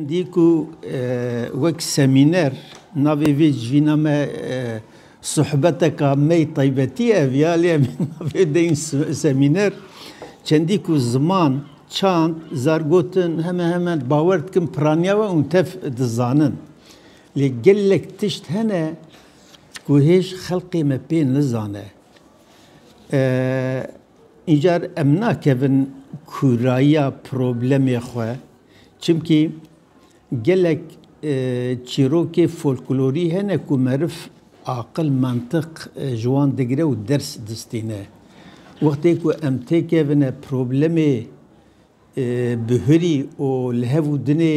Dî ku wek semîner navê vê civîna me sohbeteka me yê taybetî ye ev ya lê em ê navê deyin semîner. Çendî ku ziman, çand, zargotin heme heme bawer dikim piraniya we û tev dizanin. Lê gelek tişt hene ku hêj xelkê me pê nizane. Îcar em nakevin kûrayiya problemê xwe çimkî gelek çîrokê folklorî hene ku meriv aqil mentiq ji wan digire û ders distîne. Wextê ku em têkevine problemê bihurî û li hev û dinê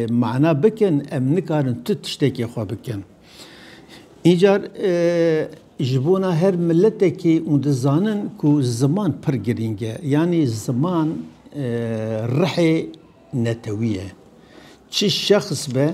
mana bikin em nikarin tu tiştekê xwe bikin. Încar ji bona her miletekê û dizanin ku ziman pir girîng e. Yanî ziman rihê netewî ye. Çi şexs be,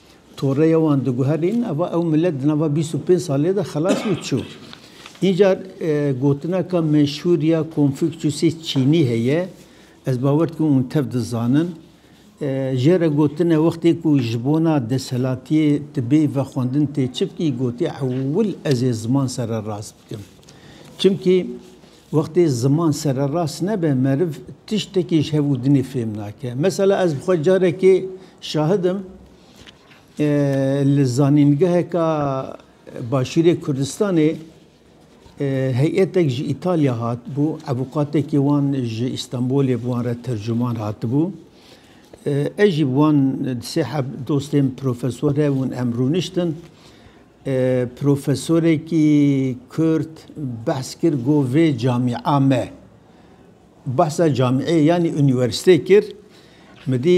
toreya wan diguherîn ava ew milet di nava bîst û pênc salê de xelas bû çû. Înca gotineka meşhûr ya Konfûçyûsê Çînî heye, ez bawer dikim hûn tev dizanin. Jê re gotine wextê ku ji bona desthilatiyê tu bê ve xwendin tê çi bikî, gotî ewil ez ê ziman sererast bikim. Çimkî Wextê ziman sererast nebe meriv tiştekî ji hev û dinê fêm nake. Mesela ez bi xwe carekê şahid im li zanîngeheka Başûrê Kurdistanê heyetek ji Îtalya hatibû, evûkatekî wan ji Îstanbûlê bi wan re tercuman hatibû. Ez jî bi wan di sê heb dostên profesor hebûn em rûniştin. Profesorekî Kurd behs kir got vê camîa me. Behsa camîeyê yanî unîwersîteyê kir. Min dî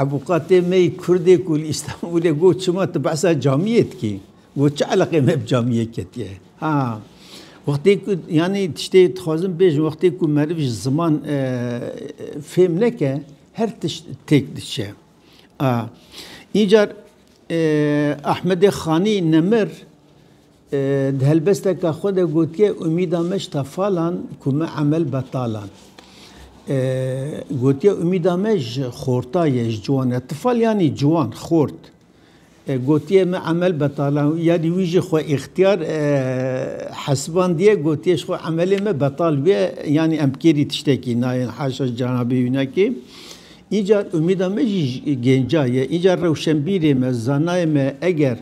evûkatê me yî Kurdêk û li Îstanbûlê got çima tu behsa camîyê dikî? Got çi eleqeyê me bi camîyê ketiye? Ha wextê ku yanî tiştê dixwazim bêjim wextê ku meriv ji ziman fêm neke her tişt têk diçe. A Încar Ahmedê Xanî Nemir di helbesteke xwe de gotiye Umîda me ji tefalan ku me emel betalan. Gotiye Umîda me ji xorta ye ji ciwan e. Tifal yanî ciwan, xort. Gotiye me emel betalan yanî wî jî xwe îxtiyar hesibandiye gotiye ji xwe emelê me betal bûye yanî em kêrî tiştekî nayên haşa ji cenabê wî nake. Îcar umîda me jî gênca ye. Îcar rewşenbîrê me, zanayê me eger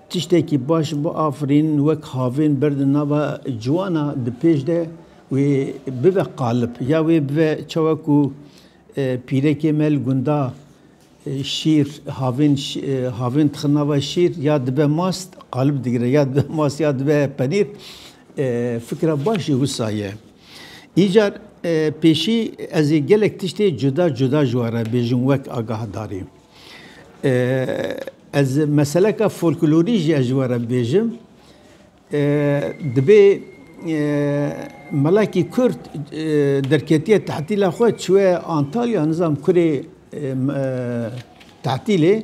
tiştekî baş biafirîn wek havên ber di nava ciwan a di pêş de wê bibe qalib ya wê bibe çawa ku e, pîrekê me li gunda e, şîr havên e, havên dixin nava şîr ya dibe mast qalib digire ya dibe mast ya dibe penîr fikra baş jî wisa ye. Îcar pêşî ez ê gelek tiştê cuda cuda ji we re bêjim wek agahdari. Ez meseleka folklorî jî ez ji we re bêjim. Dibê melekî Kurd derketiye tehtîla xwe çûye Antalya nizam kurê tehtîlê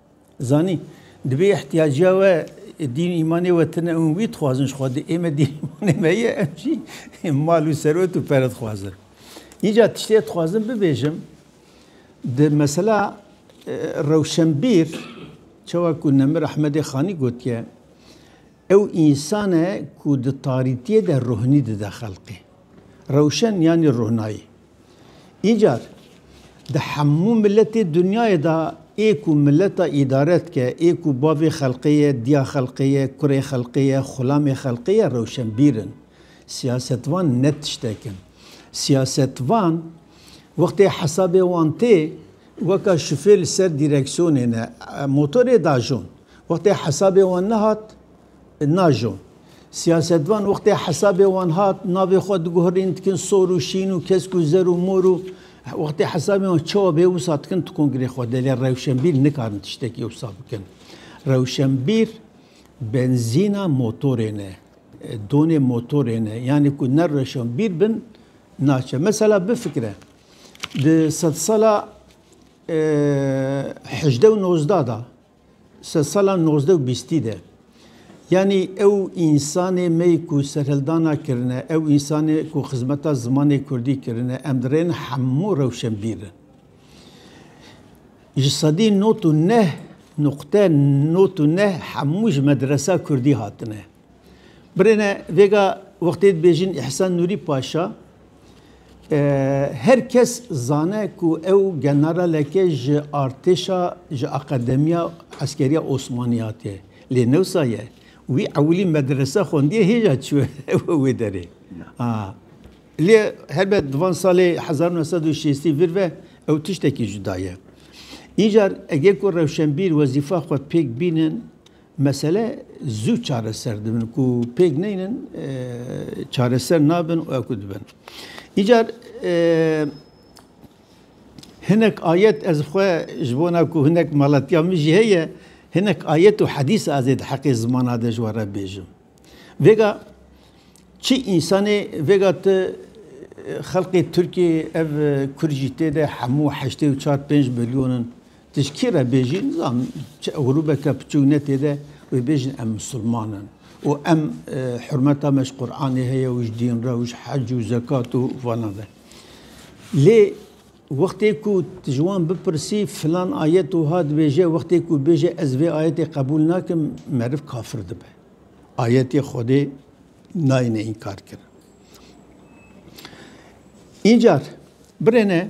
Zanî, di vê îhtîyaciya we dîn û îmanê we tune û wî dixwazin ji xwe dê, ême dîn û îmanê me ye, em jî mal û serwet û pere dixwazin. Înca tiştê dixwazim bibêjim, di mesela rewşenbîr, çawa ku Nemir Ehmedê Xanî gotiye, ew însan e ku di tarîtiyê de ruhnî dide xelqê. Rewşen yanî ruhnayî. Încar di hemû miletê dinyayê de ê ku mileta îdare dike, ê ku bavê xelqê ye, diya xelqê ye, kurê xelqê ye, xulamê xelqê ye rewşenbîr in. Siyasetvan ne tiştek in. Siyasetvan wextê hesabê wan tê weka şufê li ser dîreksiyonê ne motorê dajon. Wextê hesabê wan nehat, Najo. Siyasetvan wextê hesabê wan hat, navê xwe diguherîn, dikin sor û şîn û kesk û zer û mor û wextê hesabê wan çawa bê wisa dikin tu kongrê xwe de lê rewşenbîr nikarin tiştekî wisa bikin. Rewşenbîr benzîna motorê ne, donê motorê ne. Yanî ku ne rewşenbîr bin naçe. Mesela bifikire di sedsala hejdeh û nozdeh da Ser sala nozdeh û bîstî de. Yanî ew însanê me yê ku serhildana kirine, ew însanê ku xizmeta zimanê kurdî kirine, em dirên hemû rewşenbîrin. Ji sedî not û neh nuqte not û neh hemû ji medresa kurdî hatine. Birêne vêga wextê dibêjin Îhsan Nûrî Paşa her kes zane ku ew generaleke ji artêşa ji Akademiya Eskeriya Osmanî hatiye. Lê newsa ye. Wî ewilî medrese xwendiye hêja çûye wê derê. Lê helbet di van salê hezar nû sed û şêstî vir ve ew tiştekî cuda ye. Încar ege ku rewşenbîr wezîfa xwe pêk bînin Mesele zû çareser dibin ku pêk neynin çareser nabin û ku dibin. Îcar hinek ayet ez xwe ji bona ku hinek malatiya min jî heye hinek ayet û hedîs ez ê di heqê zimana de ji we re bêjim. Vêga çi însanê vêga tu xelqê Tirkiyê ev Kurd jî tê de hemû heştê û çar pênc milyon in. Ji kê re bêjîn nizan çi grûbeke piçûk ne tê de wê bêjin em misilman in û em hurmeta me ji Quranê heye û ji dîn re û ji hec û zekat û vana ve. Lê wextê ku tu ji wan bipirsî filan ayet wiha dibêje wextê ku bêje ez vê ayetê qebûl nakim meriv kafir dibe. Ayetê Xwedê nayêne înkarkirin. Încar birêne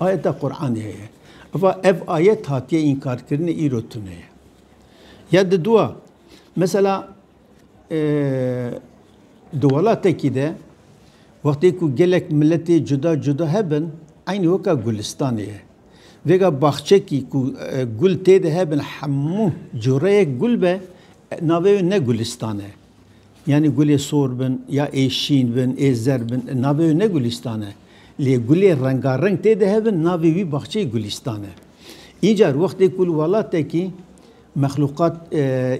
Ayeta Quranê heye. Eva ev ayet hatiye înkarkirinê îro tune ye. Ya di dua mesela e, di welatekî de wextê ku gelek miletê cuda cuda hebin eynî weka gulistanê ye. Vêga baxçekî ku e, gul tê de hebin hemû cureyek gul be navê wê ne gulîstan e. Yanî gulê sor bin ya ê şîn bin ê zerd bin navê wê ne gulîstan e. Lê gulê rengareng tê de hebin navê wî baxçeyê gulîstan e. Încar wextê ku li welatekî mexluqat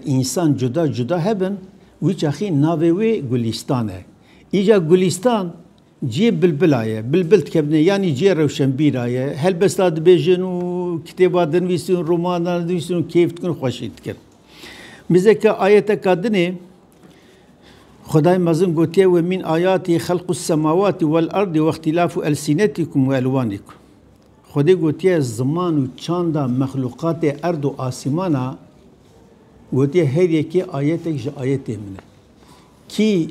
însan cuda cuda hebin wî çaxî navê wê gulîstan e. Îca gulîstan ciyê bilbila ye. Bilbil dikevne yanî ciyê rewşenbîra ye. Helbesta dibêjin û kitêba dinivîsin, romanan dinivîsin û kêf dikin û xweşî dikin. Mizeke ayeteka din ê Xwedayê mezin gotiye we mîn ayatî xelqû semawatî wel erdî wextîlafû elsînetîkum we elwanîkum. Xwedê gotiye ziman û çanda mexlûqatê erd û asîmana gotiye her yekê ayetek ji ayetê min e. Kî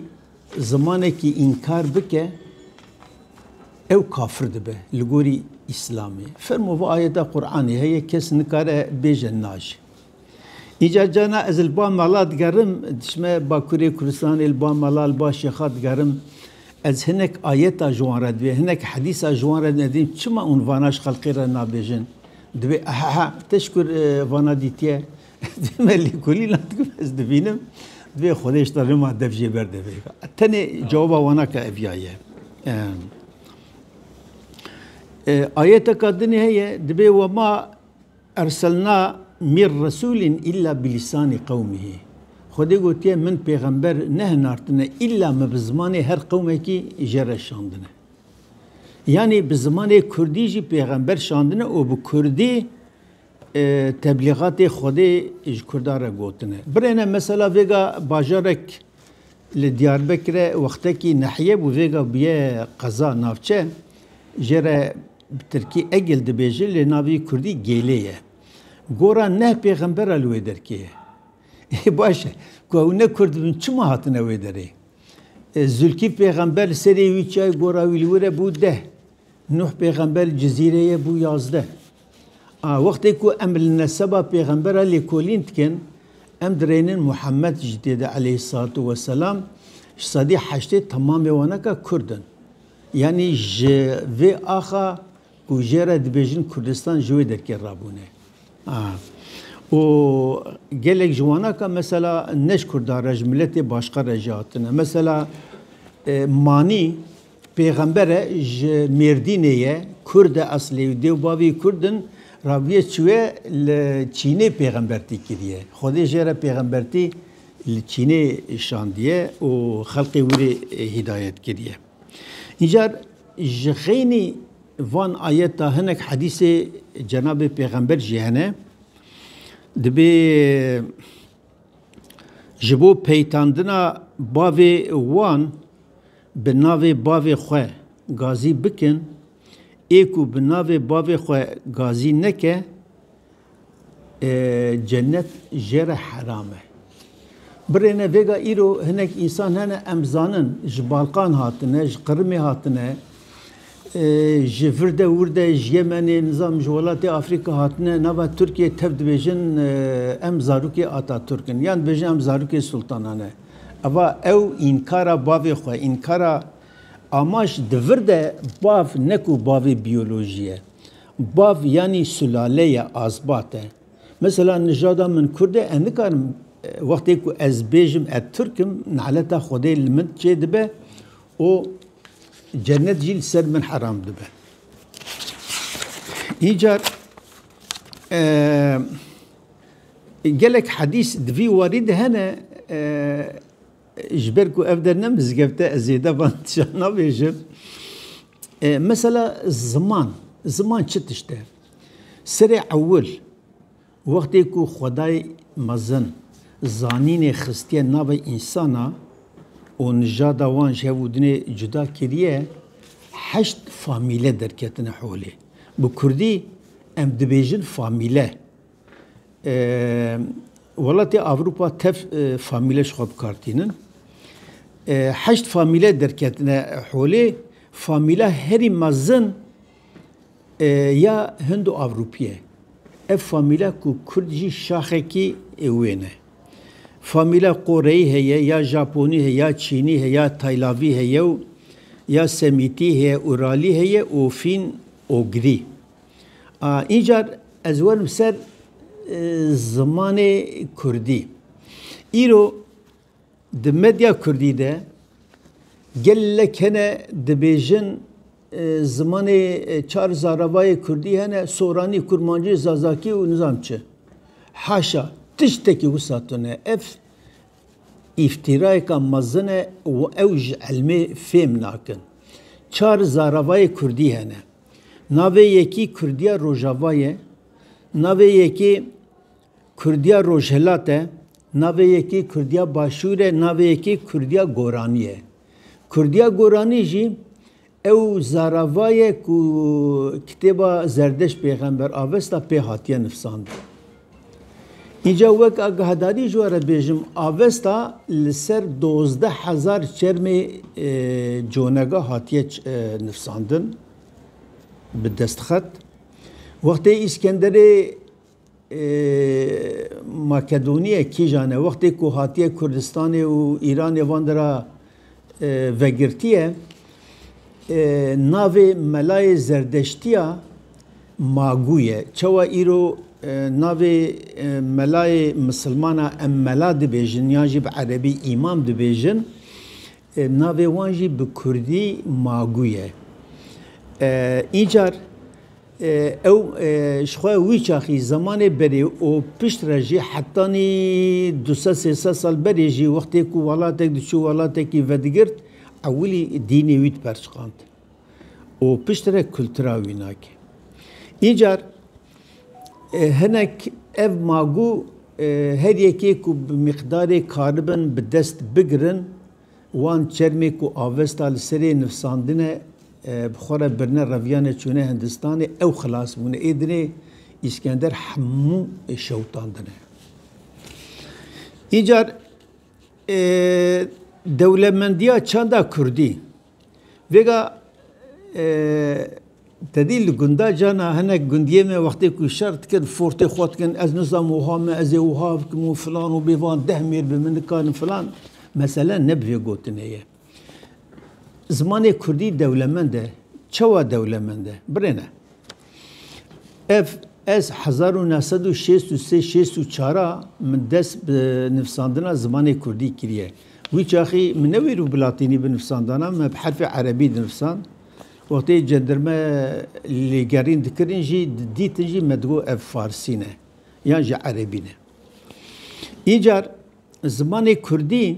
zimanekî înkar bike ew kafir dibe li gorî îslamê. Fermo va ayeta Qur'anê heye kes nikare bêje naji. Îcar carna ez li ba mala digerim, diçime Bakurê Kurdistanê li ba mala li ba şêxa digerim, ez hinek ayeta ji wan re divê, hinek hedîsa ji wan re divê, ez dibînim çima hûn vana ji xelkê re nabêjin. Divê ehehe te ji kur vana dîtiye? Divê me lêkolîna dikim ez dibînim. Divê Xwedê ji te rima dev jê ber de vêga. Tenê cewaba wana ke ev ya ye. Ayeteka dinê heye dibê wema Erselna mîr resûlên îlla bi lîsanî qewmihî. Xwedê gotiye min pêxember nehinartine îlla me bi zimanê her qewmekî jê re şandine. Yanî bi zimanê kurdî jî pêxember şandine û bi kurdî teblîgatê Xwedê ji kurdan re gotine. Birêne mesela vêga bajarek li Diyarbekire wextekî nahîye bû vêga bûye qeza, navçe, jê re Bi tirkî Egil dibêje lê navê kurdî Gêlê ye. Gora neh pêxembera li wê derkê ye. Ê baş e, ku ew ne kurd bin çima hatine wê derê? Zûlkîf pêxember li serê wî çi ye gora wî li wir e bû deh. Nuh pêxember li Cizîrê ye bû yazdeh. A wextê ku em li neseba pêxembera lêkolîn dikin, em dirênin Muhammed jî tê de aleyhîssalatu weselam, ji sedî heştê temamê wan eka kurd in. Yanî ji vê axa ku jê re dibêjin Kurdistan ji wê derkê rabûne. Û gelek ji wana ka mesela ne ji Kurdan re ji miletê başka re jî hatine. Mesela Manî pêxember e ji Mêrdînê ye, Kurd e eslê û dêw bavê wî Kurd in, raviye çûye li Çînê pêxembertî kiriye. Xwedê jê re pêxembertî li Çînê şandiye û xelkê wî rê hîdayet kiriye. Încar ji xeynî van ayeta hinek hedîsê Cenabê Pêxember jî hene. Dibê ji bo peytandina bavê wan bi navê bavê xwe gazî bikin, ê ku bi navê bavê xwe gazî neke, Cennet jê re heram e. Birêne vêga îro hinek însan hene em zanin ji Balkan hatine, ji Qirimê hatine, ji vir de wir de ji Yemenê nizam ji welatê Afrika hatine nava Tirkiyê tev dibêjin em zarokê Ataturk in yan dibêjin em zarokê sultanan e. Eva ew înkara bavê xwe, înkara Amaş di vir de bav ne ku bavê biyolojî ye. Bav yanî sulale ye azbat e. Mesela nijada min Kurd e, ez nikarim wextê ku ez bêjim ez Tirk im, neleta Xwedê li min çê dibe û cennet jî li ser min heram dibe. Încar gelek hedîs di vî warî de hene Ji ber ku ev der ne mizgebt e, ez zêde van tiştan nabêjim. Mesela ziman, ziman çi tişt e? Serê ewil, wextê ku xwedayê mezin zanînê xistiye navê însana û nijada wan ji hev û dinê cuda kiriye, heşt famîle derketine holê. Bi kurdî em dibêjin famîle. Welatê Avrupa tev famîle ji xwe bikartînin. Heşt famîle derketine holê. Famîla herî mezin ya Hindo-Avropî ye. Ev famîla ku Kurd jî şaxekî wê ne. Famîla Koreyî heye ya Japonî heye ya Çînî heye ya Taylavî heye û ya Semîtî heye, Uralî heye û Fîn-Ogrî. Încar ez werim ser zimanê Kurdî. Îro di medya Kurdî de gelek hene dibêjin zimanê çar zaravayê Kurdî hene Soranî, Kurmancî, Zazakî û nizam çi. Haşa tiştekî wisa tune. Ev îftîrayeka mezin e û ew ji elmê fêm nakin. Çar zaravayê Kurdî hene. Navê yekî Kurdiya Rojava ye, navê yekî Kurdiya Rojhilat e, navê yekî Kurdiya Başûr e, navê yekî Kurdiya Goranî ye. Kurdiya Goranî jî ew zarava ye ku kitêba Zerdeşt Pêxember Avesta pê hatiye nifsandin. Îca wek agahdari ji we re bêjim, avesta li ser dozdeh hezar çermê conega hatiye nifsandin bi destxet. Wextê Îskenderê Makedoniyê kîjan e, wextê ku hatiye Kurdistanê û Îranê van dira vegirtiye navê melayê zerdeştiya Magû ye. Çawa îro navê melayê misilmana em mela dibêjin yan jî bi erebî îmam dibêjin navê wan jî bi kurdî Magû ye. Îcar Ew ji xwe wî çaxî zemanê berê û pişt re jî hetanî du sed sê sed sal berê jî wextê ku welatek diçû welatekî vedigirt ewilî dînê wî diperçiqand û pişt re kultura wî nake. Încar hinek ev magû her yekê ku bi miqdarê karibin bi dest bigirin Wan çermê ku Avesta li serê nifsandine bi xwe re birine reviyane çûne Hindistanê ew xilas bûne. Ê dinê Îskender hemû şewitandine. Încar dewlemendiya çanda Kurdî. Vêga tedî li gunda cana hinek gundiyê me wextê ku şer dikin fortê xwe dikin ez nizam wiha me ez ê wiha bikim û filan û bêvan deh mêr bi min nikarin filan mesele ne bi vê gotinê ye. Zimanê kurdî dewlemend e. Çawa dewlemend e? Birêne. Ev ez hezar û neh sed û şêst û sê şêst û çar a min dest bi nivsandina zimanê kurdî kiriye. Wî çaxî min ne wêrû bi latînî binivsandana, me bi herfê erebî dinivsand. Wextê cendirme lêgerîn dikirin jî, didîtin jî me digot ev farsî ne yan jî erebî ne. Încar zimanê kurdî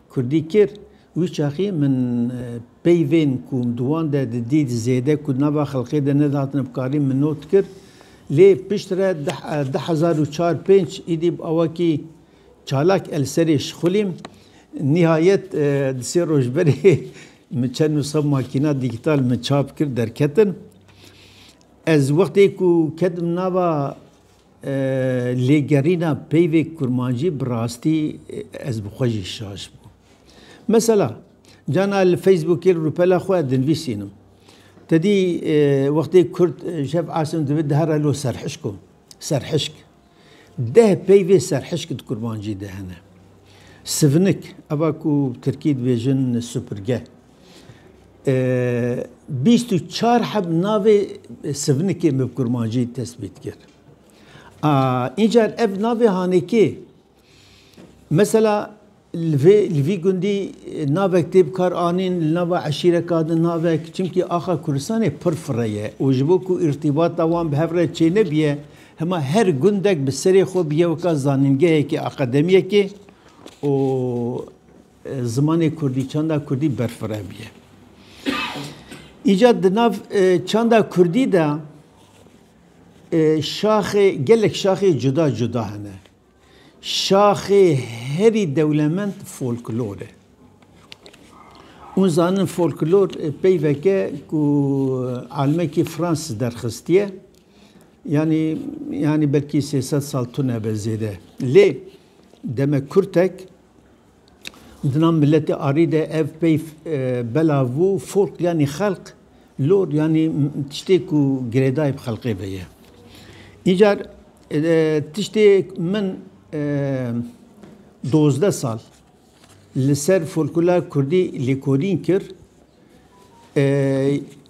Kurdî kir. Wî çaxî min peyvên ku di wan de didît zêde ku di nava xelkê de nedihatine bi karî min not kir. Lê pişt re di di hezar û çar pênc îdî bi awakî çalak el serê şixulîm. Nihayet di sê roj berê min çend nusxa makîna dîgîtal min çap kir derketin. Ez wextê ku ketim nava. Lê gerîna peyvê kurmancî bi rastî ez bi xwe jî şaş bûm. Mesela cana li Facebookê li rûpela xwe dinvîsînim. Tedî wextê Kurd şev asim dibe dihera lo serhişko, serhişk. Deh peyvê serhişk di kurmancî de hene. Sivinik, eva ku bi tirkî dibêjin supirge, bîst û çar heb navê sivnikê bi kurmancî tesbît kir. Încar ev navê hanekê mesela li vê li vî gundî navek tê bi kar anîn li nava eşîreka di navek çimkî axa Kurdistanê pir fire ye û ji bo ku îrtîbata wan bi hev re çênebiye hema her gundek bi serê xwe biyewka zanîngehekê aqedemiyekê û Zimanê Kurdî, çanda Kurdî berfirebiye. Îca di nav çanda Kurdî de şaxê gelek şaxê cuda cuda hene. Şaxê herî dewlemend folklor e. Hûn zanin folklor peyveke ku almekî Frans derxistiye. Yanî yanî belkî sê sed sal tune be zêde. Lê demek Kurtek Dina miletê arî de ev pey bela vû folk yanî xelq lor yanî tiştê ku girêdayê bi xelqê ve ye. Încar tiştê min dozdeh sal li ser folkula kurdî lêkolîn kir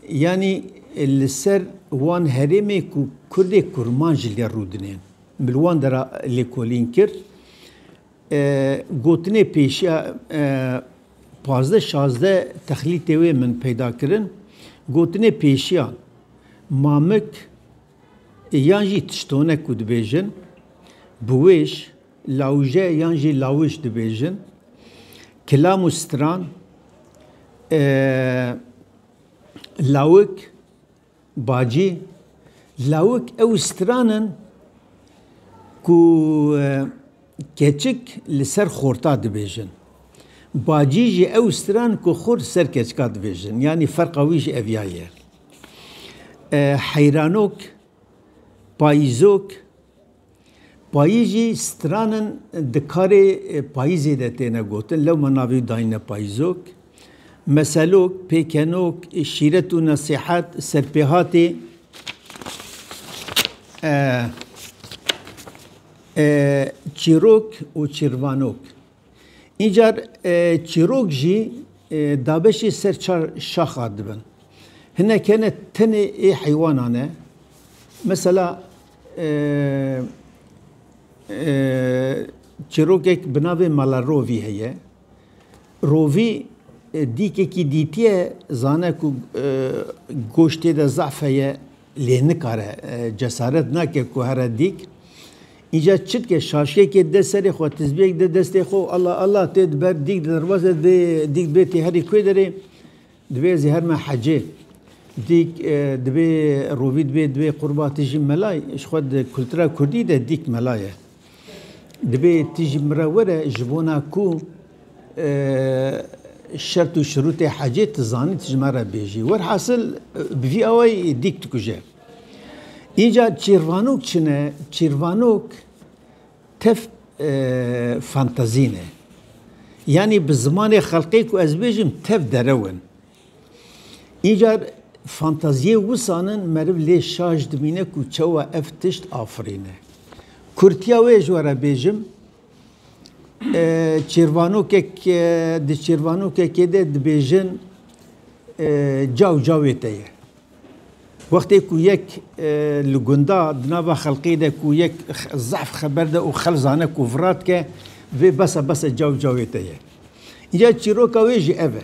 yanî li ser wan herêmê ku kurdê kurman ji lê rûdinên min li wan de re lêkolîn kir. Gotinê pêşiya pazdeh şazdeh texlîtê wê min peyda kirin. Gotinê pêşiya mamik yan jî tiştone ku dibêjin, biwêj, lawije yan jî lawij dibêjin. Kilam û stran, lawik. Bacî, Lawik ew stran in ku keçik li ser xorta dibêjin. Bacî jî ew stran ku xort li ser keçika dibêjin. Yanî ferqa wî jî ev ya ye. Heyranok, payîzok. Payîz jî stran in di karê payîzê de têne gotin, lewma navê dayîne payîzok, meselok, pêkenok, şîret û nesîhet, serpêhatê, çîrok û çîrvanok. Încar çîrok jî dabeşê ser çar şaxa dibin. Hinek hene tenê ê heywanan e. Mesela çîrokek bi navê Malarovî heye. Rovî dîkekî dîtiye zane ku goştê de zaf heye, Lê nikare, cesaret nake ku here dîk. Înca çi dike? Şaşkekê de serê xwe, tizbiyek de destê xwe û Allah Allah tê di ber dîk de derbase dê dîk dibê tê herî kûê derê dibê ez ê herme hecê. Dîk dibê rovî dibê dibê qurba tijî mela ye. Ji xwe di kultura kurdî de dîk mela ye. Divê tu jî min re were ji bona ku şert û şirûtê hecê tu zanî tu ji me re bêjî. Werhasil bi vî awayî dîk dikuje. Înca çîrvanok çi ne? Çîrvanok tev fantazî ne. Yanî bi zimanê xelqê ku ez bêjim tev derew in. Îcar fantaziyê wisan in meriv lê şaş dimîne ku çawa ev tişt afirîne. Kurtiya wê ji we re bêjim, çêrvanokek di çêrvanokekê de dibêjin caw cawê te ye. Wextê ku yek li gunda di nava xelkê de ku yek zehf xeber de û xelk zane ku vira dike vê bes e bes e caw cawê te ye. Îcar çîroka wê jî ev e.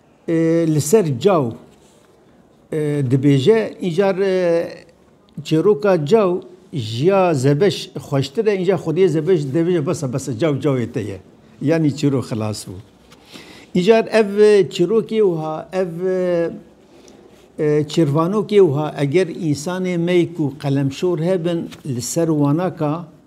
Li ser caw dibêje încar çêroka caw jiya zebeş xweştir e încar xwediyê zebeş dibêje besa besa caw cawê te ye yanî çîrok xilas bû. Încar ev çîrokê wiha ev çêrvanokê wiha eger însanê me ku qelemşor hebin li ser wana ka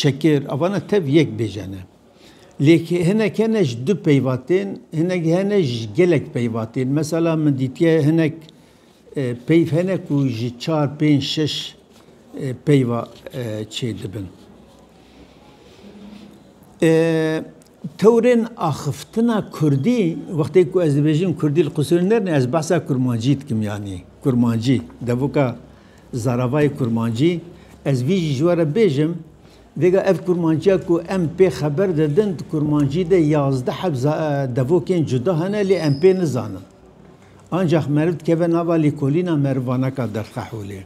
Şekêr, avana tev yek bêje ne. Lêk hinek hene ji du peyva tên, hinek hene ji gelek peyva tên. Mesela min dîtiye hinek e, peyv hene ku ji çar, pênc, şeş e, peyva e, çê dibin. Tewrên axiftina Kurdî, wextê ku ez dibêjim Kurdî li Qusûrê nerne, ez behsa kurmancî dikim yanî kurmancî. Devoka Zaravayê kurmancî, ez vî jî ji we re bêjim, vêga ev kurmanciya ku em pê xeber didin, di kurmancî de yazdeh heb devokên cuda hene lê em pê nizanin. Ancax meriv dikeve nava lîkolîna merivanaka Derxeholê.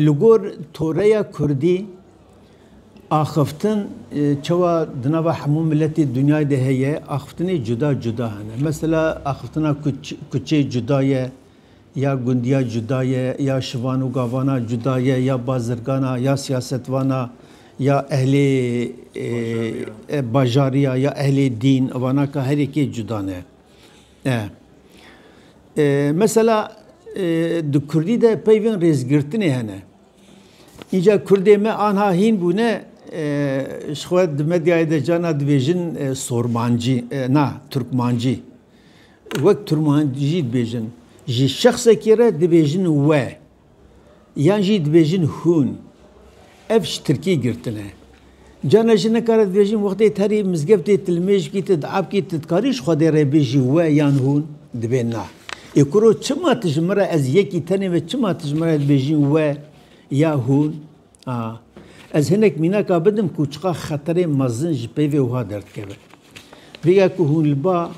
Li gor toreya kurdî axiftin çewa di nava hemû miletê dinyayê de heye, axiftinê cuda cuda hene. Mesela axiftina kuçê cuda ye, Ya gundiya cuda ye, ya şivan û gavana cuda ye, ya bazirgan a, ya siyasetvan a, ya ehlê bajarî a, ya ehlê dîn, vana ka herî kê cuda ne. E Mesela di kurdî de peyvên rêzgirtinê hene. Înca kurdê me anha hîn bûne ji xwe di medyayê de carna dibêjin sormancî na turkmancî. Wek Turkmen jî dibêjin, ji şexsekê re dibêjin we yan jî dibêjin hûn. Ev ji tirkî girtin e. Carna jî nikare dibêjin wextê te rê mizgeftê tilmêjkî te diabkî tu dikarî ji Xwedê re bêjî we yan hûn? Dibê na. Ê kuro çima tu ji min re ez yekî tenê me çima tu ji min re dibêjî we ya hûn? Ez hinek mînaka bidim ku çiqa xeterê mezin ji peyvê wiha derdikeve. Rêya ku hûn li ba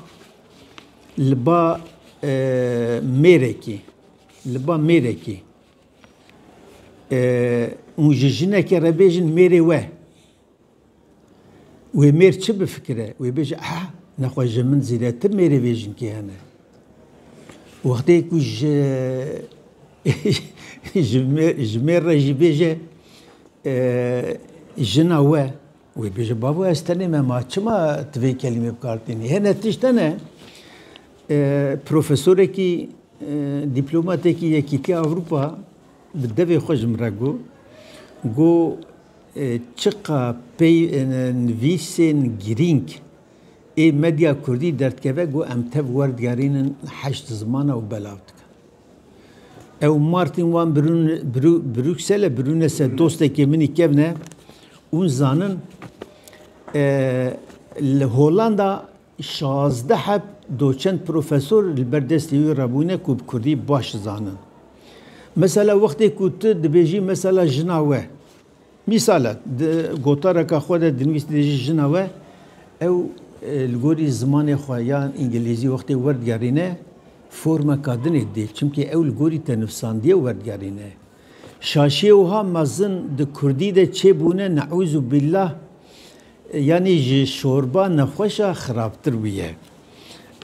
li ba mêrekê li ba mêrekê hûn ji jinekê re bêjin mêrê we Wê mêr çi bifikire? Wê bêje ah, nexwe ji min zêdetir mêrê vê jinkê hene. Wextê ku ji ji mêr re jî bêje jina we, wê bêje babo ez tenê me ma çima tu vê kelîmê bi kar tînî? Hê ne tişt hene profesorekî dîplomatekî Yekîtiya Ewropa Bi devê xwe ji min re got, got, Çiqa pey nivîsên girîng ê medya kurdî derdikeve got em tev werdigerînin heşt zimana û belav dikin. Ew û Martin wan Brukselê birûne ser dostekê min î kevne û zanin li Holanda Şazdeh heb doçent profesor li ber destê wî re bûne ku bi kurdî baş dizanin. Mesela wextê ku tu dibêjî mesela jina we, mîsal e, di gotareka xwe de dinivîs dibêjî jina we, ew li gorî zimanê xwe ya îngilîzî wextê werdigerîne formeka din ê didê çimkî ew li gorî te nivîsandiye werdigerîne. Şaşiyê wiha mezin di kurdî de çêbûne neûzûbillah Yanî ji şorba nexweşa xirabtir bûye.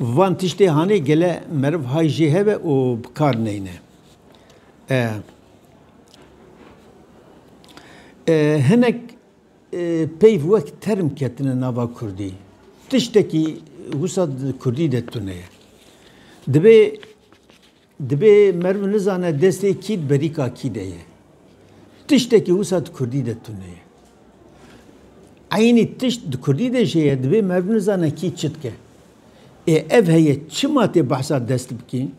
Van tiştê hanê gele meriv hay jê hebe û bi kar neyne. Hinek peyv wek term ketine nava kurdî. Tiştekî wisa di kurdî de tune ye. Divê. Dibê merv nizane destê kî di berîka kî de ye. Tiştekî wisa di kurdî de tune ye. Eynî tişt di kurdî de jî ye, dibê merv nizane kî çi dike. Ê ev heye çima tê behsa dest bikîn?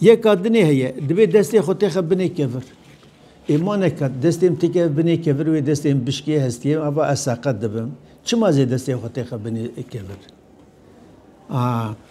Yeka dinê heye, dibê destê xwe têxe binê kevir. Ê ma neka destê min têkeve binê kevir wê destê min bişkê hestiyê ava ez seqet dibim. Çima zê destê xwe têxe binê kevir? A.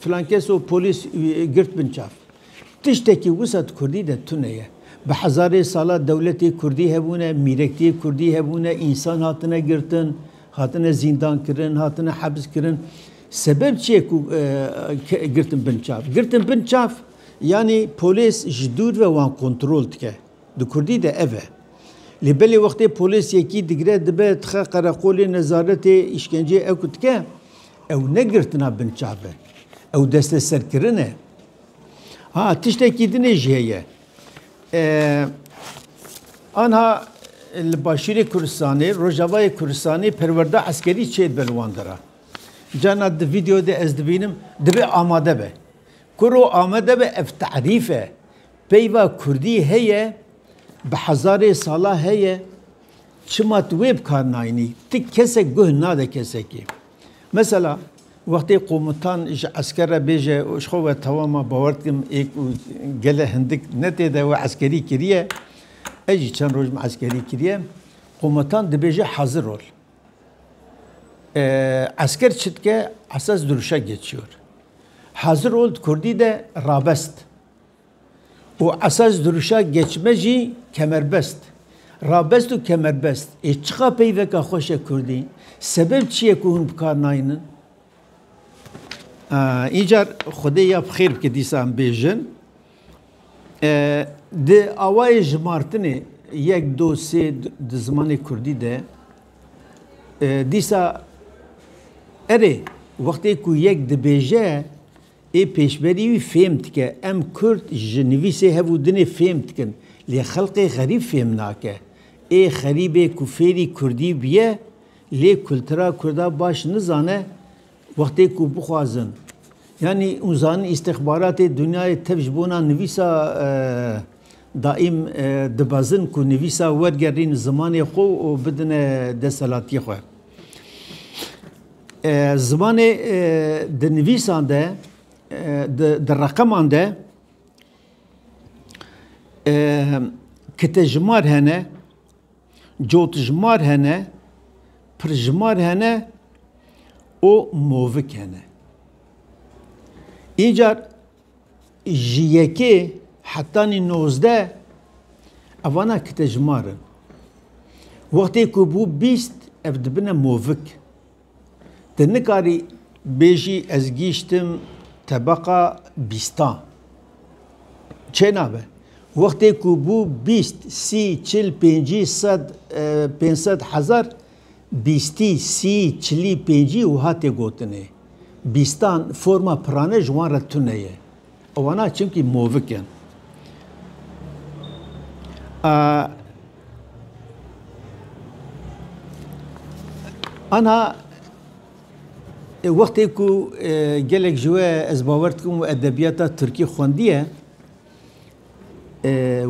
Filan kes û polîs wî girt bin çav. Tiştekî wisa di kurdî de tune ye. Bi hezarê sala dewletê kurdî hebûne, mîrektiyê kurdî hebûne, însan hatine girtin, hatine zîndankirin, hatine hebzkirin. Sebeb çi ye ku girtin bin çav? Girtin bin çav yanî polîs ji dûr ve wan kontrol dike. Di kurdî de ev e. Lê belê wextê polês yekî digire dibe dixe qereqolê nezaretê îşkenceyê ew ku dike ew ne girtina bin çav e. Ew desteserkirin e. Ha tiştekî din ê jî heye. Anha li başûrê Kurdistanê, rojavayê Kurdistanê perwerda eskerî çêdibe li wan dera. Carna di vîdeo de ez dibînim dibe amade be. Kuro amade be ev tarîf e. Peyva kurdî heye, bi hezarê sala heye, çima tu wê bi kar nayînî? Ti kesek guh nade kesekê. Mesela wextê qomutan ji esker re bêje û ji xwe ve tawa ma bawer dikim ê ku gele hindik ne tê de we eskerî kiriye, ez jî çend roj min eskerî kiriye, qomutan dibêje hazir ol. Esker çi dike? Esas duruşa geçiyor. Hazir ol di kurdî de rabest. û esas dirûşa geçme jî kemerbest, rabest û kemerbest ê çiqa peyveka xweş e kurdî, sebeb çi ye ku hûn bi kar naynin? Încar xwedê ya bi xêr bike dîsan bêjin di awayê jimartinê yek do sê di zimanê kurdî de dîsa erê wextê ku yek dibêje Ê pêşberî wî fêm dike. Em kurd ji nivîsê hev û dinê fêm dikin. Lê xelkê xerîb fêm nake. Ê xerîbê ku fêrî kurdî bûye lê kultura kurda baş nizane wextê ku bixwazin yanî û zanin îstixbaratê dinyayê tev ji bona nivîsa daîm dibezin ku nivîsa wergerîn zimanê xwe û bidine desthilatiyê xwe. Zimanê di nivîsan de di reqeman de kitejimar hene, cotjimar hene, pirjimar hene û movik hene. Încar Ji yekê hetanî nozdeh evana kitejimar in. Wextê ku bû bîst ev dibine movik. Te nikarî bêjî ez gîştim tebeqa bîstan. Çê nabe. Wextê ku bû bîst, sî, çil, pêncî, sed, pênc sed, hezar bîstî, sî, çilî, pêncî wiha tê gotinê, bîstan, forma pirane ji wan re tune ye. Wana çimkî movik in. A Anha wextê ku gelek ji we ez bawer dikim û edebiyata Tirkî xwendiye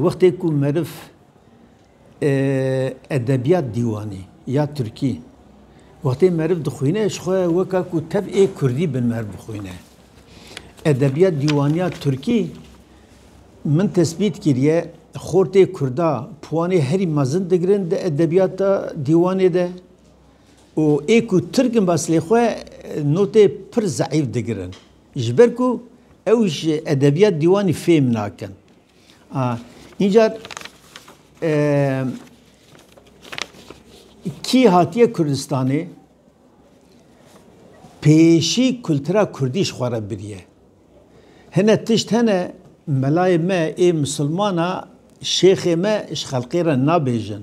wextê ku meriv Edebiyat dîwanî ya Tirkî wextê meriv dixwîne ji xwe weka ku tev ê Kurdî bin meriv bixwîne. Edebiyat dîwaniya Tirkî min tesbît kiriye xortê Kurda puwanê herî mezin digirin di edebiyata dîwanê de û ê ku Tirk in bes lê xwe notê pir zeîf digirin. Ji ber ku ew ji edebiyat dîwanî fêm nakin. Încar kî hatiye Kurdistanê pêşî kultura Kurdî ji xwe re biriye. Hine tişt hene melayê me ê misilmana şêxê me ji xelkê re nabêjin.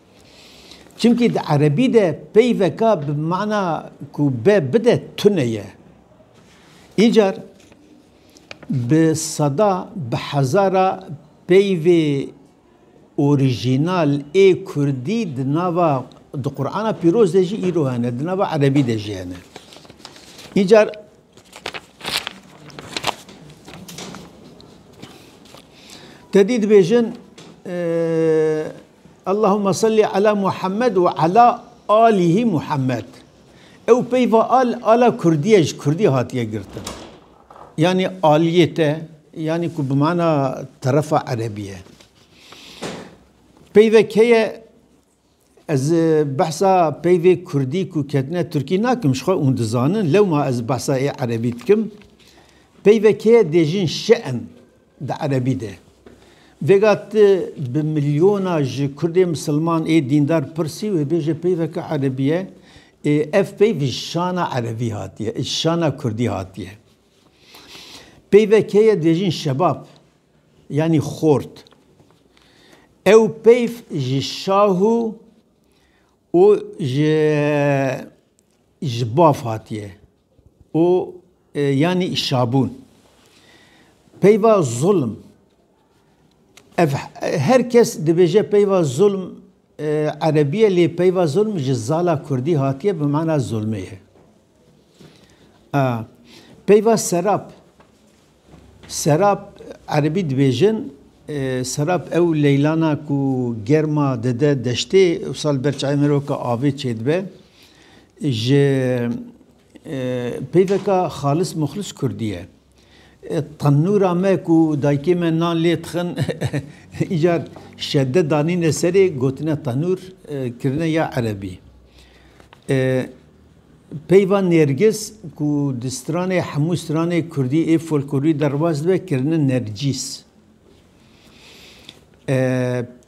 Çimkî di erebî de peyveka bi mana ku be bide tune ye. Îcar bi seda bi hezara peyvê orîjînal ê kurdî di nava di Qur'ana pîroz de jî îro hene, di nava erebî de jî hene. Îcar tedî dibêjin Allahuma salli ala Muhammed û ala alîhî Muhammed. Ew peyva al ala Kurdî ye ji Kurdî hatiye girtin. Yanî aliyê te yanî ku bi mana terefa erebî ye. Peyve kê ye ez behsa peyvê Kurdî ku ketine Tirkî nakim ji xwe ûn dizanin lewma ez behsa ê erebî dikim. Peyve kê ye dê jin şi'in. Di erebî de. Vêga tu bi milyona ji Kurdê misilman ê dîndar pirsî wê bêje peyveke erebî ye, ê ev peyv ji şana erebî hatiye, ji şana Kurdî hatiye. Peyve kê ye dibêjin şebab yanî xort. Ew peyv ji şahu û ji ji bav hatiye. û yanî şabûn. Peyva zulm ev her kes dibêje peyva zulm erebîye lê peyva zulm ji zala kurdî hatiye bi mana zulmê ye. Peyva serap. Serap, erebî dibêjin serap ew leylana ku germa dide deştê wisa li ber çayê miroka avê çêdibe. Ji peyveka xalis muxlis kurdî ye. Tenûra me ku dayikê me nan lê dixin îcar şedde danîne serê gotine tenûr kirine ya erebî. Peyva Nêrgiz ku di stranê hemû stranê kurdî ê folklorî de rewaj dibe kirine Nercîs.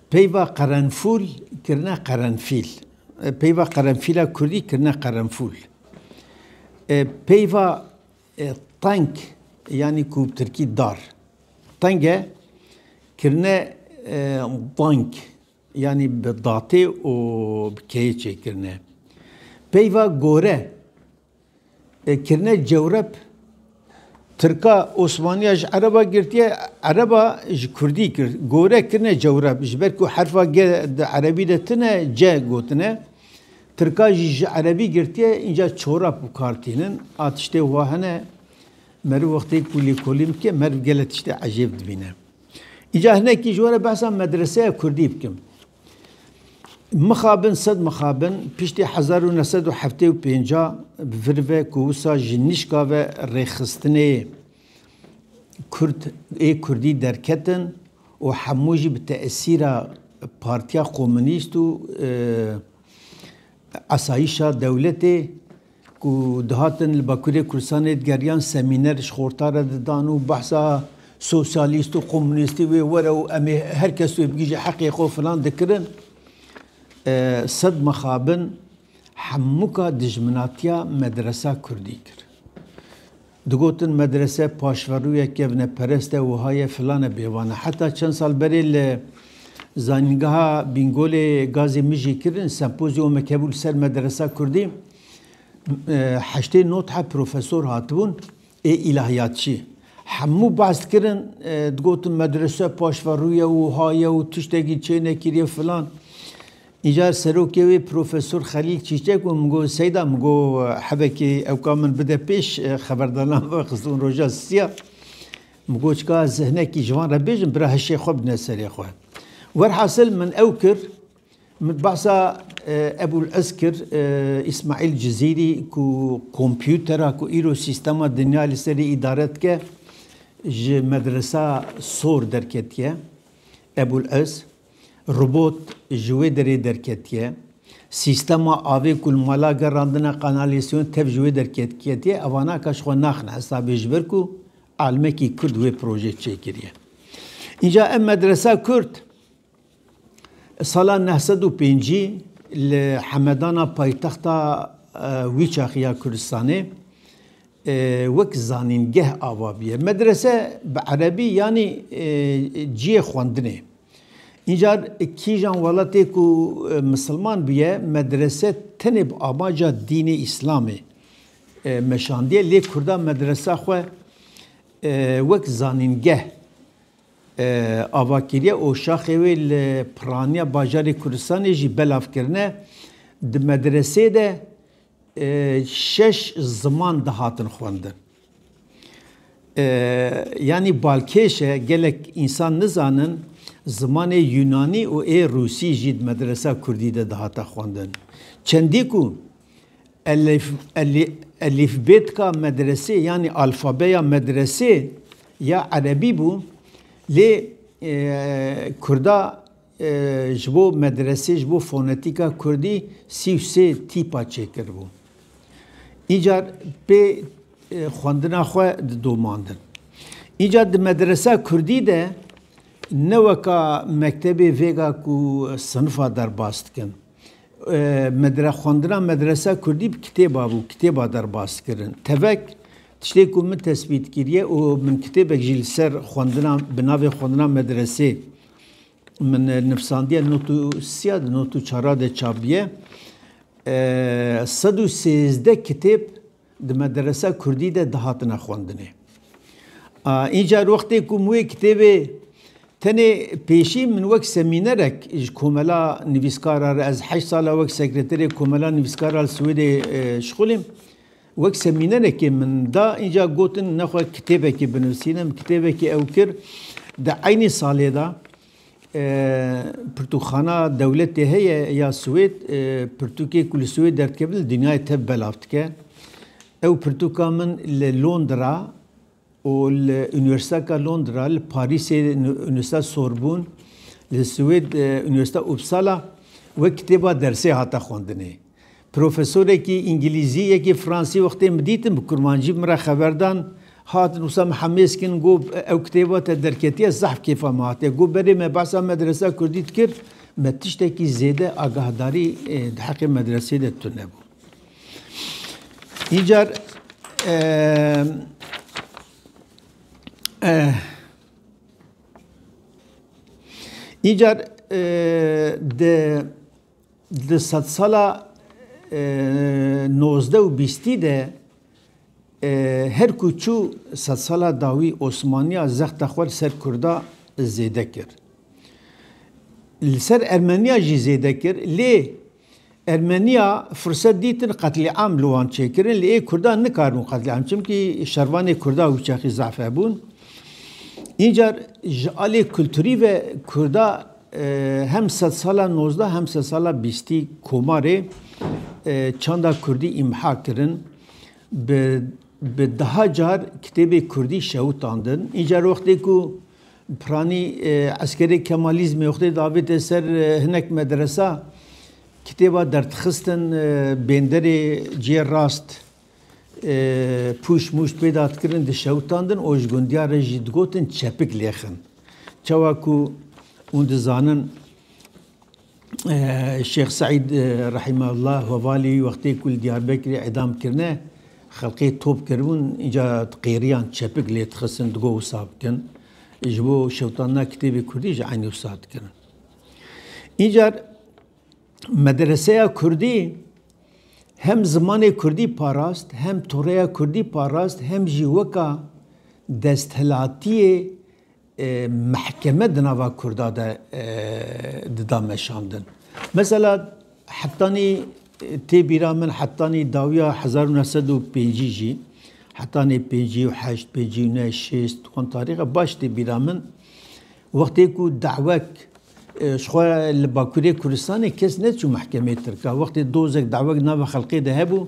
Peyva Qerenfûl kirine Qerenfîl. Peyva Qerenfîla kurdî kirine Qerenfûl. Peyva Teng yanî ku bi tirkî dar teng e kirine Dang. Yanî bi datê û bi keyê çêkirine. Peyva gore e, kirine cewrep Tirka Osmaniya ji Ereba girtiye, Ereba ji Kurdî kir. Gore kirine cewrep ji ber ku herfa ge di Erebî de tine ce gotine. Tirka jî ji Erebî girtiye înca çorap bi kar tînin. A tiştê wa hene meriv wextê ku lêkolîn bike meriv gelek tiştê ecêb dibîne. Îca hinekî ji we re behsa medreseya Kurdî bikim. Mixabin sed mixabin piştî hezar û neh sed û heftê û pêncî bi vir ve ku wisa ji nîşka ve rêxistinê Kurd ê Kurdî derketin û hemû jî bi tesîra Partiya Komûnîst û Asayîşa dewletê ku dihatin li Bakurê Kurdistanê digeriyan semîner ji xorta re didan û behsa sosyalîst û komûnîstî wê were û em ê her kes wê bigihîje heqê xwe filan dikirin. Sed mixabin hemûka dijminatiya medresa kurdî kir. Digotin medrese paşverûye kevneperest e wiha ye filan e bêvan e. Heta çend sal berê li Zanîngeha Bîngolê Gazê Mijî kirin sempozyumek hebû li ser medresa kurdî heştê nod he profesor hatibûn ê îlahiyatçî hemû behs dikirin digotin medrese paşverûye wiha ye û tiştekî çênekiriye filan. Îcar serokê wê Profesor Xelîl Çîçek bû, min got Seyda min got hevekê ew ka min bide pêş xeberdanan vexistin roja siya. Min got çika ez hinekî ji van re bêjim bira hişê xwe bidine serê xwe. Werhasil min ew kir min behsa Ebûl Ez kir Îsmaîl Cizîrî ku kompûtera ku îro sîstema dinya li serî îdare dike ji medresa sor derketiye Ebûl Ez. Robot ji wê derê derketiye. Sîstema avê ku li mala gerandine kanalîsyon tev ji wê derketiye evanaka ji xwe naxine hesabê ji ber ku alimekî kurd wê proje çêkiriye. Înca ev medresa kurd sala neh sed û pêncî li Hemedana paytexta wî çaxî ya Kurdistanê Wek zanîngeh ava bûye. Medrese bi erebî yanî ciyê xwendinê. Încar kîjan welatê ku misilman bûye medrese tenê bi amaca dînê îslamê meşandiye lê kurda medresa xwe wek zanîngeh ava kiriye û şaxê wê li piraniya bajarê Kurdistanê jî belav kirine. Di medresê de Şeş ziman dihatin xwendin. Yanî balkêş e gelek însan nizanin zimanê Yûnanî û ê Rûsî jî di medresa Kurdî de dihate xwendin. Çendî ku elîfbêtka medresê yanî alfabeya medresê ya erebî bû lê kurda Ji bo medresê ji bo fonetîka kurdî sî û sê tîpa çêkiribû. Încar pê xwendina xwe didomandin. Încar di medresa kurdî de ne weka mektebê vêga ku sinifa derbas dikin. Medre xwendina medresa kurdî bi kitêba bû, kitêba derbas dikirin. Tevek tiştê ku min tesbît kiriye û min kitêbek jî li ser xwendina bi navê xwendina medresê Min nivsandiye not û siya di not û çara de çabiye. Sed û sêzdeh kitêb di mederesa Kurdî de dihatine xwendinê. Încar wextê ku min wê kitêbê tenê pêşî min wek semînerek ji komela nivîskara re ez heşt sal e wek sekreterê komela nivîskara li Swêdê şixulîm. Wek semînerekê min da înca gotin nexwe kitêbekê binivîsînim. Kitêbekê ew kir. Di eynî salê de pirtûkxana dewletê heye ya Swêd pirtûkê ku li Swêd derdikevin li dinyayê tev belav dike. Ew pirtûka min li Londra û li Unîversîteka Londra, li Parîsê Unîversîteta Sorbûn, li Swêd Unîversîteta Uppsala wek kitêba dersê hate xwendinê. Profesorekî Îngilîzî, yekê Fransî wextê min dîtin bi Kurmancî min re xeber dan. Hatin wisa min hemêz kirin got ew kitêba te derketiye zehf kêfa me hatiye. Got berê me behsa medresa Kurdî dikir me tiştekî zêde agahdarî di heqê medreseyê de tune bû. Îcar Îcar di sedsala nozdeh û bîstî de her ku çû sedsala dawî Osmaniya zexta xwe li ser Kurda zêde kir. Li ser Ermeniya jî zêde kir lê Ermeniya furset dîtin qetlîam li wan çêkirin lê ê kurdan nikaribûn qetlîam çimkî şervanê kurda wîçaxî zaf hebûn. Încar ji alê kulturî ve kurda hem sed sala nozda hem sed sala bîstî komarê çanda kurdî îmha kirin. Bi bi deha car kitêbê kurdî şewitandin. Încar wextê ku Piranî eskerê Kemalîzmê xwedê davête ser hinek medresa, kitêba derdixistin bênderê cihê rast pûşt mûşt pêda dikirin dişewitandin û ji gundiya re jî digotin çepik lêxin. Çawa ku hûn dizanin, Şêx Seîd Rehîmeullah Wevalî wextê ku li Diyarbekirê îdam kirine, xelkê top kiribûn, înca qêriyan çepik lê dixistin digot wisa bikin. Ji bo şewitandina kitêbê kurdî jî eynî wisa dikirin. Încar medreseya kurdî hem zimanê kurdî parast, hem toreya kurdî parast, hem jî weka desthilatiyê Mehkeme di nava Kurda de dida meşandin. Mesela hetanî tê bîra min hetanî dawiya hezar û neh sed û pêncî jî hetanî pêncî û heşt, pêncî û neh, şêst wan tarîxa baş tê bîra min. Wextê ku dawek ji xwe li Bakurê Kurdistanê kes neçû mehkemê Tirka. Wextê dozek dawek di nava xelkê de hebû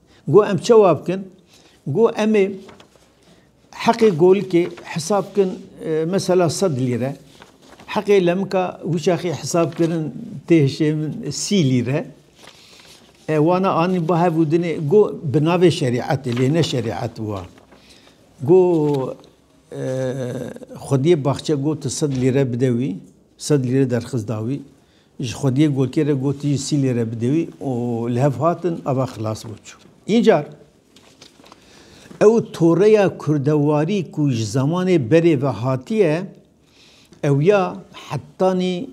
Got em çawa bikin? Got emê heqê golikê hesab bikin mesela sed lîre. Heqê lemika wişaxê hesab kirin tê hişê min sî lîre. E, wana anî ba hevû dinê go bi navê şerîetê lê ne şerîet wa. Go e, xwediyê baxçe go tu sed lîre bide wî, sed lîre derxist da wî. Ji xwediyê gotiyê re gotî ji sîlê re bide wî û li hev hatin ava xilas bû çû. Încar ew toreya kurdewarî ku ji zemanê berê ve hatiye ew ya hetanî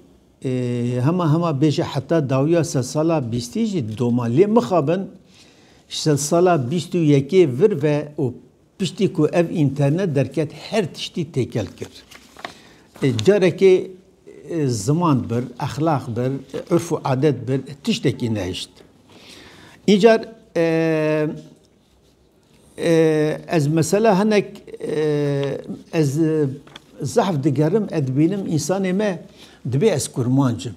hema hema bêje heta dawiya sedsala bîstî jî doma. Lê mixabin ji sedsala bîst û yekê vir ve û Piştî ku ev înternet derket her tiştî têkel kir. Carekê ziman bir, exlaq bir, urf û adet bir tiştekî nehişt. Încar ez mesela hinek ez zehf digerim ez dibînim însanê me dibê ez kurmanc im.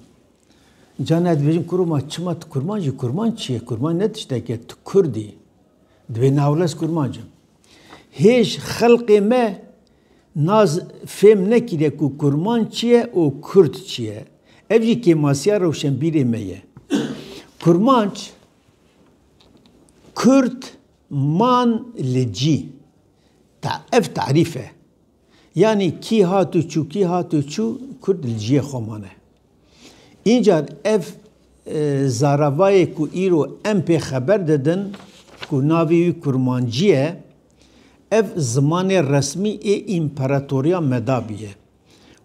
Cana ez dibêjim kurma çima tu kurmanc î kurmanc çi ye kurmanc ne tişteke tu kurd î. Divê Newles Kurmanc in. Hêj xelqê me naz fêm nekiriye ku Kurmanc çi ye û Kurd çi ye. Ev jî kêmasiya rewşenbîrê me ye. Kurmanc, Kurd man li cî. Ta ev tarîf e. Yanî kî hat û çû, kî hat û çû, Kurd li ciyê xwe mane. Încar ev zaravayê ku îro em pê xeber didin ku navê wî kurmancî ye, ev zimanê resmî ê Împaratoriya Medabî ye.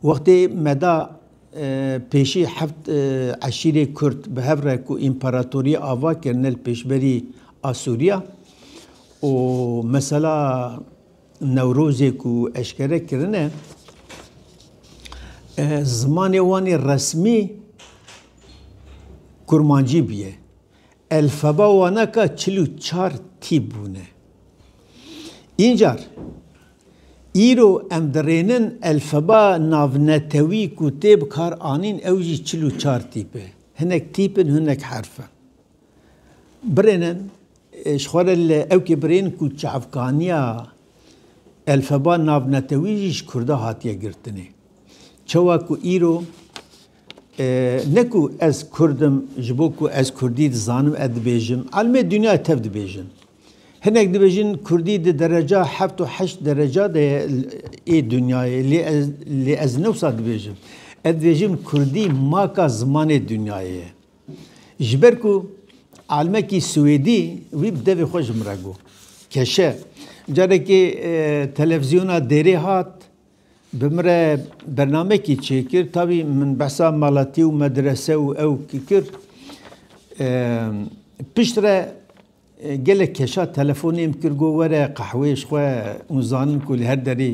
Wextê Meda pêşî heft eşîrê Kurd bi hev re ku împaratoriyê ava kirine li pêşberî Asûriya û mesela Newrozê ku eşkere kirine zimanê wanê resmî kurmancî bûye. Elfeba wana ka çil û çar tîp bûne. Încar îro em dirênin elfeba navnetewî ku tê bi kar anîn ew jî çil û çar tîp e. Hinek tîp in hinek herf in. Birênin Ji xwe re li ew kêbirên ku çavkaniya elfeba navnetewî jî ji Kurda hatiye girtinê. Çawa ku îro ne ku ez Kurd im ji bo ku ez Kurdî dizanim ez dibêjim, alimê dinyayê tev dibêjin. Hinek dibêjin Kurdî di dereca heft û heşt dereca de ye ê dinyayê lê ez lê ez ne wisa dibêjim. Ez dibêjim Kurdî maka zimanê dinyayê ye. Ji ber ku almekî Swêdî wî bi devê xwe ji min re got. Keşe, carekê televîzyona dêrê hat, bi min re bernamekî çêkir, tavî min behsa malatî û medrese û ew kir. Piştre gelek keşa telefonêm kir got were qehwê ji xwe û zanin ku li her derê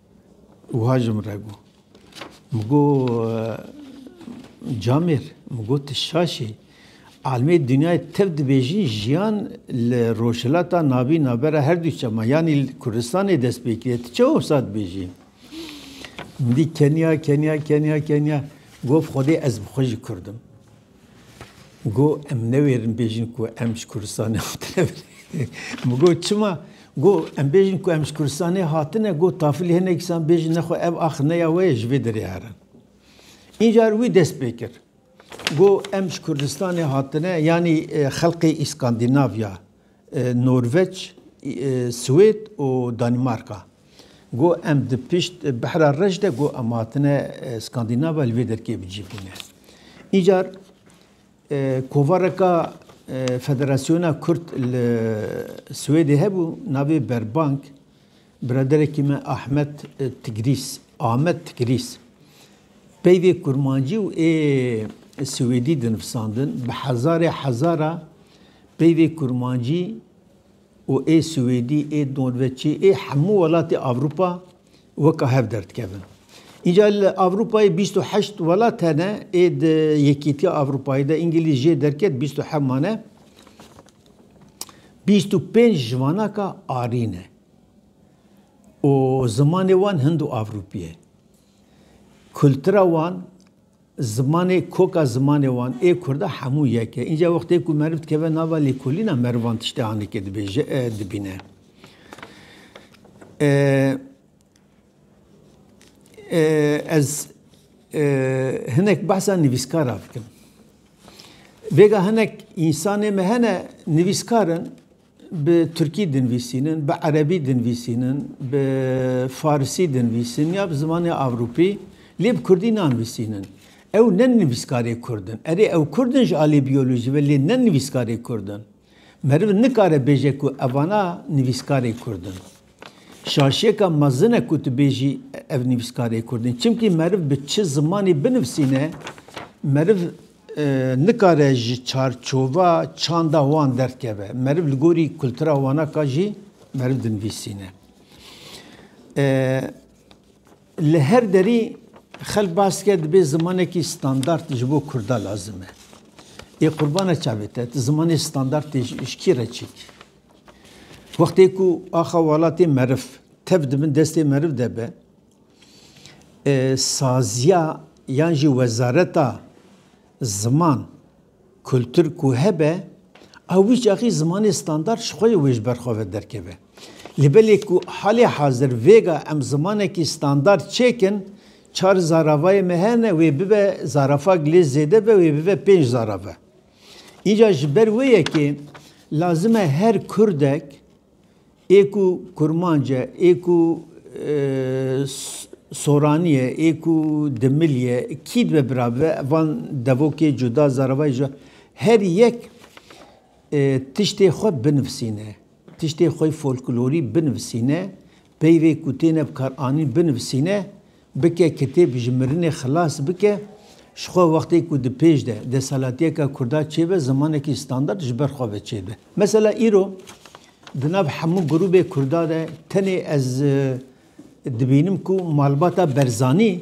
Wiha ji min re got. Min got Camêr, min got tu şaş î. Almê dinyayê tev dibêjin jiyan li Rojhilata Navîn navbera her du çema yanî li Kurdistanê dest pê kiriye. Tu çawa wisa dibêjî? Min dît keniya keniya keniya keniya. Gof Xwedê ez bi xwe jî Kurd im. Go em newêrin bêjin ku em ji Kurdistanê hatine binê. Min got çima? Go em bêjin ku em ji Kurdistanê hatine, go tafilî hinek îsan bêjin nexwe ev ax ne ya we ye ji vê derê herin. Încar wî dest pê kir. Go em ji Kurdistanê hatine yanî xelkê Îskandînavya Norweç, Swêd û Danîmarka got em di pişt Behra Reş de got em hatine Skandînava li vê derkê bi cî bûne. Încar kovareka Federasyona Kurd li Swêdê hebû navê Berbank, Biraderekî me Ahmet Tigrîs, Ahmet Tigrîs, peyvê kurmancî û ê siwêdî dinivsandin, bi hezarê hezara peyvê kurmancî û ê siwêdî, ê norveçî, ê hemû welatê Ewropa weka hev derdikevin. Înca li Ewropayê bîst û heşt welat hene, ê di Yekîtiya Ewropayê de Îngilîz jê derket bîst û heft mane. Bîst û pênc ji vanaka arî ne. û zimanê wan hindo-avrûpî ye. Kultura wan, zimanê koka zimanê wan ê kurda hemû yek e. Înca wextê ku meriv dikeve nava lêkolîna merivan tiştê hanekê dibêje e, dibîne. Ez hinek behsa nivîskara bikim. Vêga hinek însanê me hene nivîskar in, Bi tirkî dinvîsînin, bi erebî dinvîsînin, bi farisî dinvîsin ya bi zimanê ewropî lê bi kurdî nanvîsînin. Ew ne nivîskarê kurd in. Erê ew kurd in ji alî biyolojî ve lê ne nivîskarê kurd in. Meriv nikare bêje ku evana nivîskarê kurd in. Şaşiyeka mezin e ku tu bêjî ev nivîskarê kurd in. Çimkî meriv bi çi zimanê binivîsîne meriv nikare ji çarçova çanda wan derdkeve. Meriv li gorî kultura wana ka jî meriv dinvîsîne. Li her derî xelk bas dike dibê zimanekî standard ji bo kurda lazim e. Ê qurbana çavê te, tu zimanê standardê ji kî re çêkî? Wextê ku axa welatê meriv tev di bin destê meriv de be, Saziya yan jî wezareta ziman, kultur ku hebe ew wî çaxî zimanê standard ji xwe yê wê ji ber xwe ve derkeve. Li belê ku halê hazir vêga em zimanekî standard çêkin çar zaravayê me hene wê bibe zarafag lê zêde be wê bibe pênc zarave. Înca ji ber wê yekê lazim e her kurdek, Ê ku kurmanc e, ê ku soranî ye, ê ku dimilî ye, kî dibe bira bibe van devokê cuda zaravayî ji her yek tiştê xwe binivisîne, tiştê xwe yê folklorî binivisîne, peyvê ku têne bikaranîn binivisîne. Bike kitêb ji mirinê xilas bike ji xwe wextê ku di pêş de desalatiyeka kurda çêbe zimanekî standard ji ber xwe ve çêbe. Mesela îro di nav hemû grûbê kurda de tenê ez dibînim ku malbata Berzanî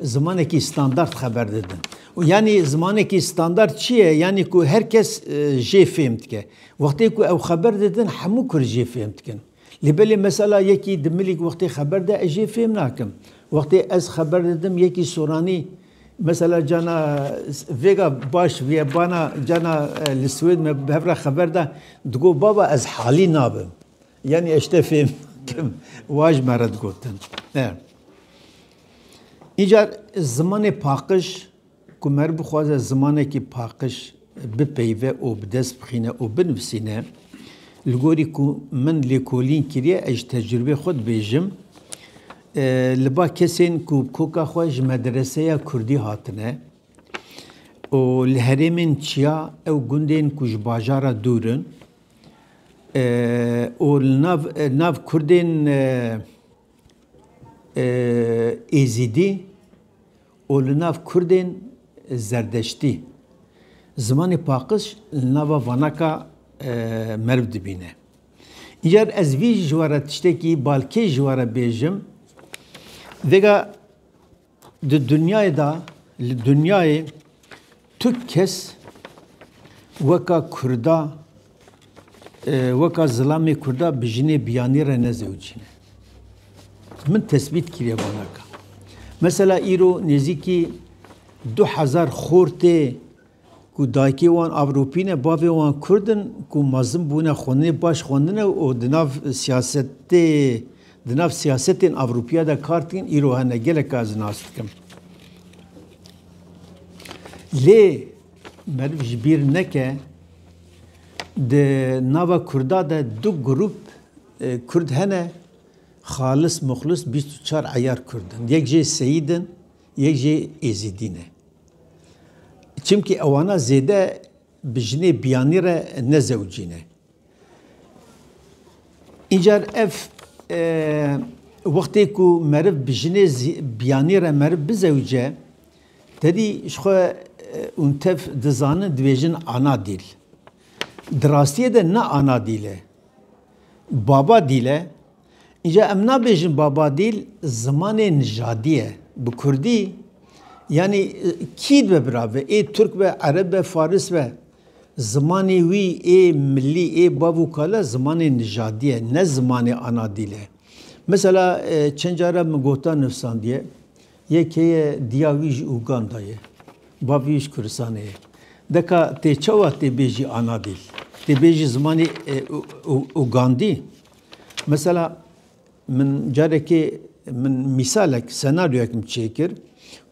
zimanekî standard xeber didin. Û yanî zimanekî standard çi ye? Yanî ku her kes jê fêm dike. Wextê ku ew xeber didin hemû kurd jê fêm dikin. Lê belê mesela yekî di milîk wextê xeber de ez jê fêm nakim. Wextê ez xeber didim yekî soranî mesela cana vêga baş vîye bana cana li Swêd me bi hev re xeber da digo baba ez halî nabim. Yanî ez te fêm nakim. Wa ji me re digotin. Încar zimanê paqij Ku mer bixwaze zimanekî paqij bipeyve û bi dest bixîne û binivîsîne, li gorî ku min lêkolîn kiriye ez ji tecrûbê xwe dibêjim, li ba kesên ku bi koka xwe ji medreseya kurdî hatine û li herêmên çiya ew gundên ku ji bajara dûr in û li nav nav kurdên êzîdî, û li nav Kurdên Zerdeştî, zimanê paqij li nava vanaka meriv dibîne. Încar ez vî ji we re tiştekî balkêş ji we re bêjim, vêga di dinyayê de, li dinyayê Tu kes weka kurda weka zilamê kurda bi jinê biyanî re ne zewicîne. Min tesbît kiriye banaka. Mesela îro nêzîkî du hezar xor tê ku dayikê wan Ewropî ne, bavê wan Kurd in ku mezin bûne, xwendinê baş xwendine û di nav siyasetê di nav siyasetên Ewropîya de kar dikin, îro hene gelek a ez nas dikim. Lê meriv ji bîr neke di nava Kurda de du grûp Kurd hene xalis muxlis bîst û çar eyar Kurd in. Yek jê Seyîd in, yek jê Êzîdî ne. Çimkî ewana zêde bi jinê biyanî re ne zewicî ne. Încar ev wextê ku meriv bi jinê biyanî re meriv bizewce, tedî ji xwe û tev dizanin dibêjin ana dîl. Di rastiyê de ne ana dîl e. Baba dîl e. Înca em nabêjin Babadîl zimanê nijadî ye. Bi kurdî yanî kî dibe birave? Ê turk be, ereb be, faris be. Zimanê wî ê milî, ê bav û kale zimanê nijadî ye, ne zimanê ana dîl e. Mesela e, çend care min gota nivîsandiye, yê keye diya wî ji Uganda ye. Bavê wî ji Kurdistanê ye. Deka tê çawa tê bêjî ana dîl? Tê bêjî zimanê e, Ugandî? Mesela min carekê min mîsalek senaryoyek min çêkir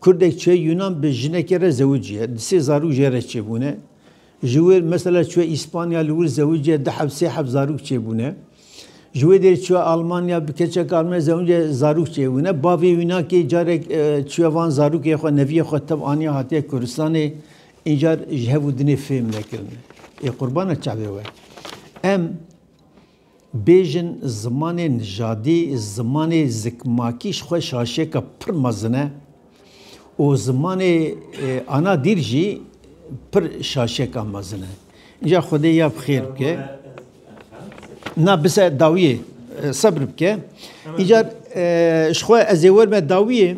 Kurdek çê Yunan bi jinekê re zewiciye di sê zarok jê re çêbûne ji wê mesela çiye İspanya li wir zewiciye di hev sê hev zarok çêbûne ji wê dêr çiye Almanya bi keçek Almanya zewiciye zarok çêbûne bavê Yunakê carek e, çiye van zarokê xwe neviyê xwe tev aniye hatiye Kurdistanê încar ji hev û dinê fêm nekirine ê qurbana çavê we em Bêjin zimanê nijadî, zimanê zikmakî ji xwe şaşêka pir mezin e û zimanê ana dîl jî pir şaşêka mezin e. Înca Xwedê ya bi xêr bike. Na bise dawiyê sebir bike. Înca ji xwe ez ê werime dawiyê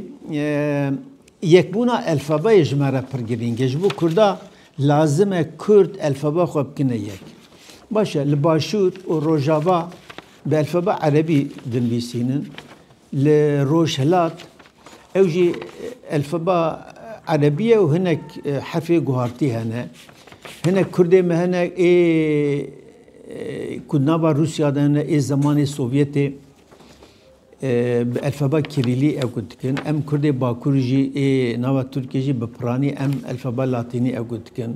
yekbûna elfabeyê ji me re pir girîng e. Ji bo Kurda Lazim e Kurd elfeba xwe bikine yek. Baş e, li Başûr û Rojava bi elfeba Erebî dinivîsînin, li Rojhilat ew jî elfeba Erebî ye û hinek hefê guhartî hene. Hinek Kurdê me hene ê ku di nava Rûsya de hene, ê zemanê Sovyetê. Bi elfeba kirîlî ew ku dikin, em kurdê bakur jî ê nava tirkî jî bi piranî em elfeba latînî ew ku dikin.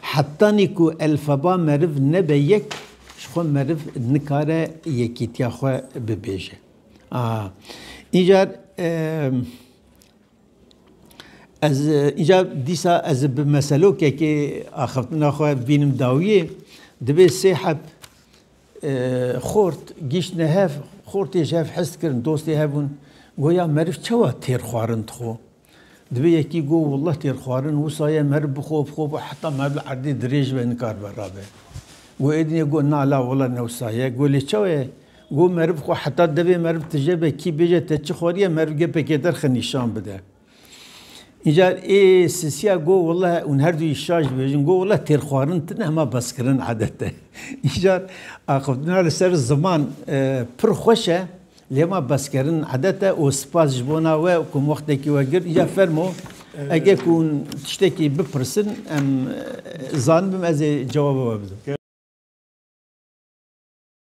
Hetanî ku elfeba meriv nebe yek ji xwe meriv nikare yekîtiya xwe bibêje. A Încar ez încar dîsa ez bi meselokekê axiftina xwe bînim dawiyê. Divê sê heb Xort, gîştine hev, xortê ji hev hest kirin, dostê hev bûn. Goya meriv çawa têr xwarin dixwe? Divê yekî got Wullah têr xwarin wisa ye meriv bixwe bixwe bixwe heta meriv li erdê dirêj be nikar be rabe. Got êdînê got na la wila ne wisa ye. Got lê çawa ye? Got meriv xwe heta devê meriv tije be kî bêje te çi xwariye meriv gepekê derxe nîşan bide. Înca ê sisiya got wele hûn her duyî şaş dibêjin got wele têrxwarin tune hema bezkirin adet e. Înca axiftina li ser ziman pir xweş e lê hema bezkerin adet e û spas ji bona we ku min wextekî we girt. Înca fermo ege ku hûn tiştekî bipirsin em zanibim ez ê cewaba we bidim.